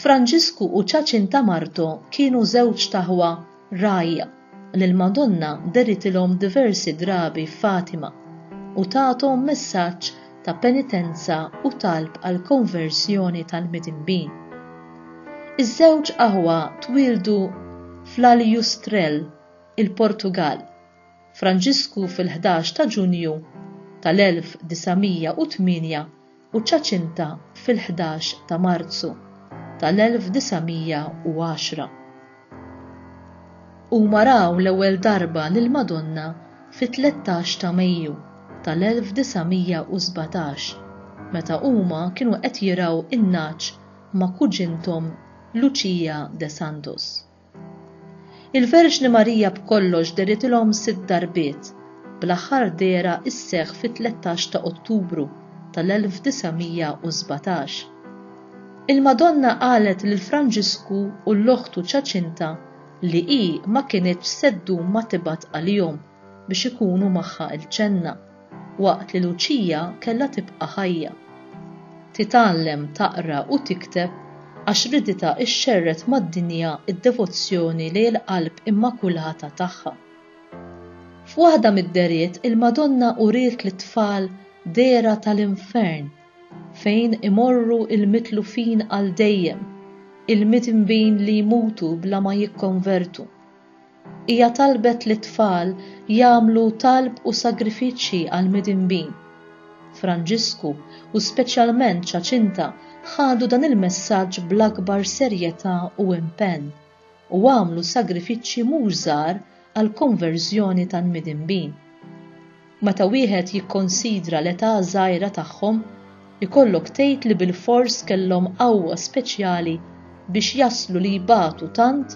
Franġisku u Ċaċinta Marto kienu żewġt aħwa rgħajja li l-Madonna deritilhom diversi drabi f'Fatima u tathom messaġġ ta' penitenza u talb għall-konverżjoni tal-midinbin. Iż-żewġ aħwa twieldu fl-Aljustrel, il-Portugall, Franġisku fil-ħdax ta' Ġunju tal-1908 u Ċaċinta fil-ħdax ta' Marzu tal-1910. Huma raw l-ewwel darba lill-Madonna fit-tlettax ta' Mejju tal-1917 meta huma kienu qed jirgħu n-nagħaġ ma' kuġinthom Lucia de Santos. Il-Verġni Marija b'kollox dehritilhom sitt darbiet, bl-aħħar dehra isseħħ fit-tlettax ta' Ottubru tal-1917. Il-Madonna qalet lil Franġisku u 'l oħtu Ċaċinta li hi ma kinitx se ddum ma tibgħat għalihom. biex ikunu magħha l-ġenna waqt li Luċija kellha tibqa' ħajja. Titgħallem taqra u tikteb għax riditha xxerred mad-dinja d-devozzjoni lejn l-Qalb Immakulata tagħha. F'waħda mid-dehriet il-Madonna uriet lit-tfal dehra tal-infern fejn imorru l-mitlufin għal dejjem, il-midnbin li jmutu bla ma jikkonvertu. Hija talbet lit-tfal jagħmlu talb u sagrifiċċji għall-midinbin. Franġisku, u speċjalment Ċaċinta, ħadu dan il-messaġġ bl-akbar serjetà u impenn, u għamlu sagrifiċċji mhux żgħar għall-konverżjoni tal-midinbin. Meta wieħed jikkonsidra l-età żgħira tagħhom, ikollok tgħid li bilfors kellhom qawwa speċjali biex jaslu li jbatu tant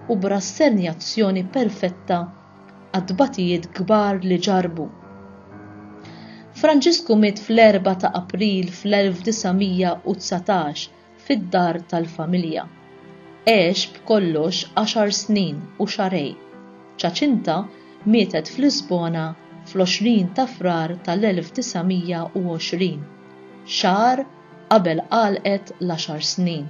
u b'rassenjazzjoni perfetta għat-tbatijiet kbar li ġarrbu. Franġisku miet fl-4 ta' April fl-1919 fid-dar tal-familja. Għex b'kollox għaxar snin u xahrejn. Ċaċinta mietet f'Lisbona fl-20 ta' Frar tal-1920, xahar qabel għalqet l-għaxar snin.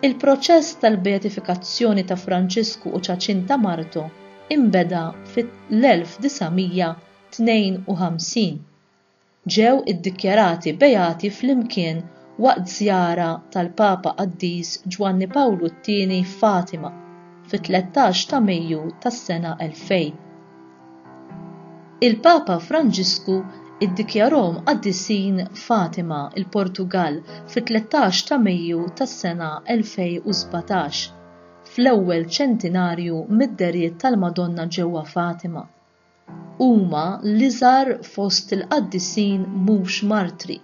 Il-proċess tal-beatifikazzjoni ta' Franċisku u Ċaċinta martu inbeda fl-1952. ġew iddikjarati beati flimkien waqt żjara tal-Papa Qaddis Ġwanni Pawlu t-Tieni f'Fatima fit-tlettax ta' Mejju tas-sena 2000. Il-Papa Franġisku iddikjarahom qaddisin f'Fatima, il-Portugall, fit-tlettax ta' Mejju tas-sena 2017, fl-ewwel ċentinarju mid-dehriet tal-Madonna ġewwa Fatima. Huma l-iżgħar fost il-qaddisin mhux martri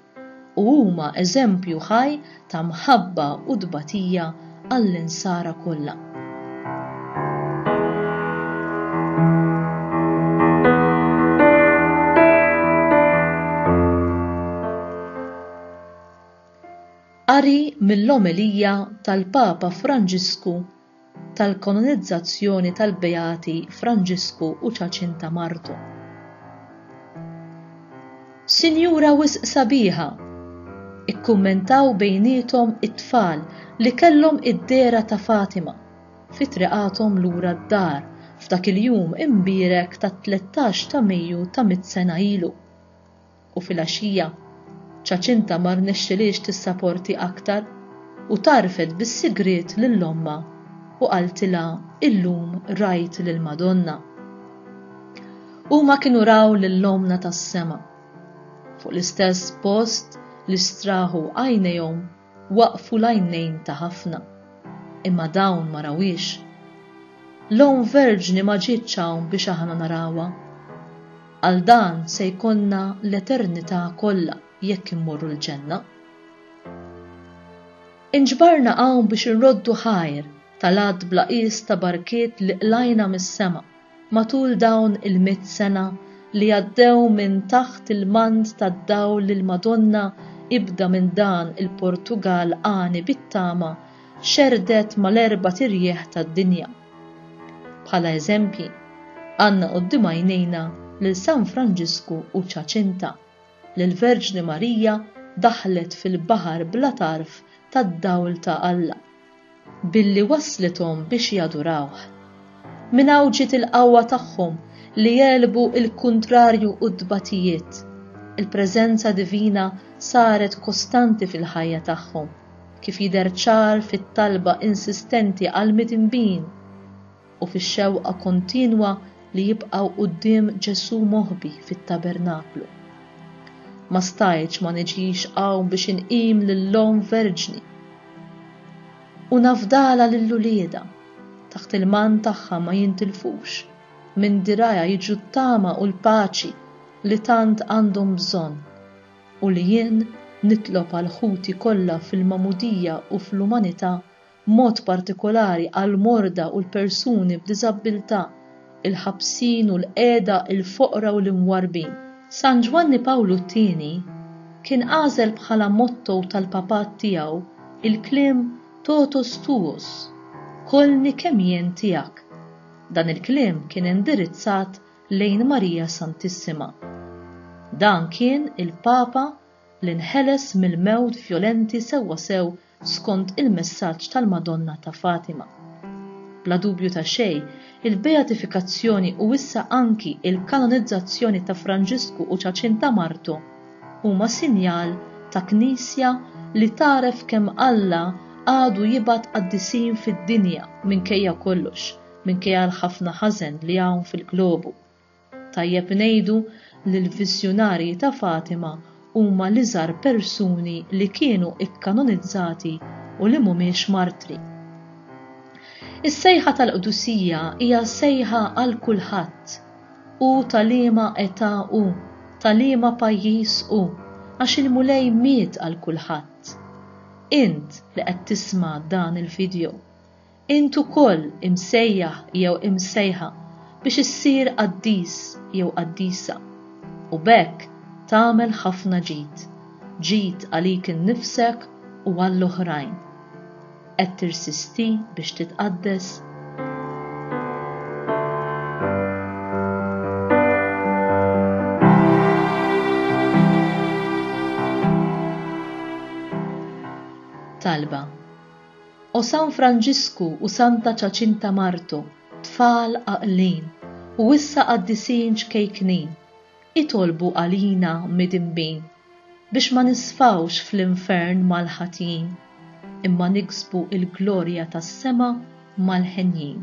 u huma eżempju ħaj ta' mħabba u tbatija għall-Insara kollha. Qari mill-omelija tal-Papa Franġisku tal-kanonizzazzjoni tal-Beati Franġisku u Ċaċinta martu. Sinjura wisq sabiħa! ikkummentaw bejniethom it-tfal li kellhom id-dehra ta' Fatima fi triqathom lura d-dar f'dak il-jum imbierek tat-tlettax ta' Mejju ta' mitt sena ilu. u filgħaxija Ċaċinta ma rnexxilhiex tissaporti aktar u tgħarrfet bis-sigriet lil ommha u qaltilha illum rajt lill-Madonna. Huma kienu raw lil ommna tas-sema. Fuq l-istess post li straħu għajnejhom Waqfu l-għajnejn ta' ħafna, imma dawn ma rawhiex. L-Omm Verġni ma ġietx hawn biex aħna narawha. Għal dan se jkollna l-eternità kollha jekk immorru l-Ġenna. Inġbarna hawn biex inroddu ħajr tal-għadd bla qies ta' barkiet li qlajna mis-sema. Matul dawn il-mitt sena li għaddew minn taħt il-mant tad-dawl li l-Madonna ibda minn dan il-Portugall għani bit-tama xerrdet mal-erbat irjieħ tad-dinja. Bħala eżempji, għandna quddiem għajnejna lil San Franġisku u Ċaċinta, li l-Verġni Marija daħlet fil-baħar bla tarf tad-dawl ta' Alla. billi wasslithom biex jadurawh. Minn hawn ġiet il-qawwa tagħhom li jegħlbu l-kuntrarju u t-tbatijiet. Il-preżenza divina saret kostanti fil-ħajja tagħhom, kif jidher ċar fit-talba insistenti għall-midinbin. u fix-xewqa kontinwa li jibqgħu quddiem Ġesù moħbi fit-tabernaklu. Ma stajtx ma niġix hawn biex inqim lill-Omm Verġni u nafdalha lil uliedha, taħt il-mann tagħha ma jintilfux, minn dirgħajha jiġu t-tama u l-paċi li tant għandhom bżonn u li jien nitlob għal ħuti kollha fil-magħmudija u fl-umanità b'mod partikolari għall-morda u l-persuni b'diżabbiltà, il-ħabsin u l-qiegħda, il-foqra u l-imwarrbin. San Ġwanni Pawlu t-Tieni kien għażel bħala motto tal-Papat tiegħu l-kliem Totus tuus, Kollni kemm jien tiegħek. Dan il-kliem kien indirizzat lejn Marija Santissima. Dan kien il-Papa li nħeles mill-mewt vjolenti sewwasew skont il-messaġġ tal-Madonna ta' Fatima. Bla dubju ta' xejn, il-beatifikazzjoni u issa anki l-kanonizzazzjoni ta' Franġisku u Ċaċinta martu huma sinjal ta' Knisja li tagħref kemm Alla għadu jibgħat qaddisin fid-dinja minkejja kollox, minkejja l-ħafna ħażen li hawn fil-globu. Tajjeb ngħidu li l-Viżjunarji ta' Fatima huma l-iżgħar persuni li kienu kkanonizzati u li mhumiex martri. Is-sejħa tal-qdusija hija sejħa għal kulħadd, hu ta' liema età hu, ta' liema pajjiż hu, għax il-Mulej miet għal kulħadd. Int li qed tisma' dan il-video, Int ukoll imsejjaħ jew imsejħa biex issir qaddis jew qaddisa, u b'hekk tagħmel ħafna ġid, ġid għalik innifsek u għall-oħrajn. Qed tirsisti biex titqaddes? Talba. O San Franġisku u Santa Ċaċinta martu, tfal għaqlin, u issa qaddisin ċkejknin, itolbu għalina midinbin, biex ma nisfgħux fl-infern mal-ħatjin, imma niksbu il-glorja tas-sema mal-henjin.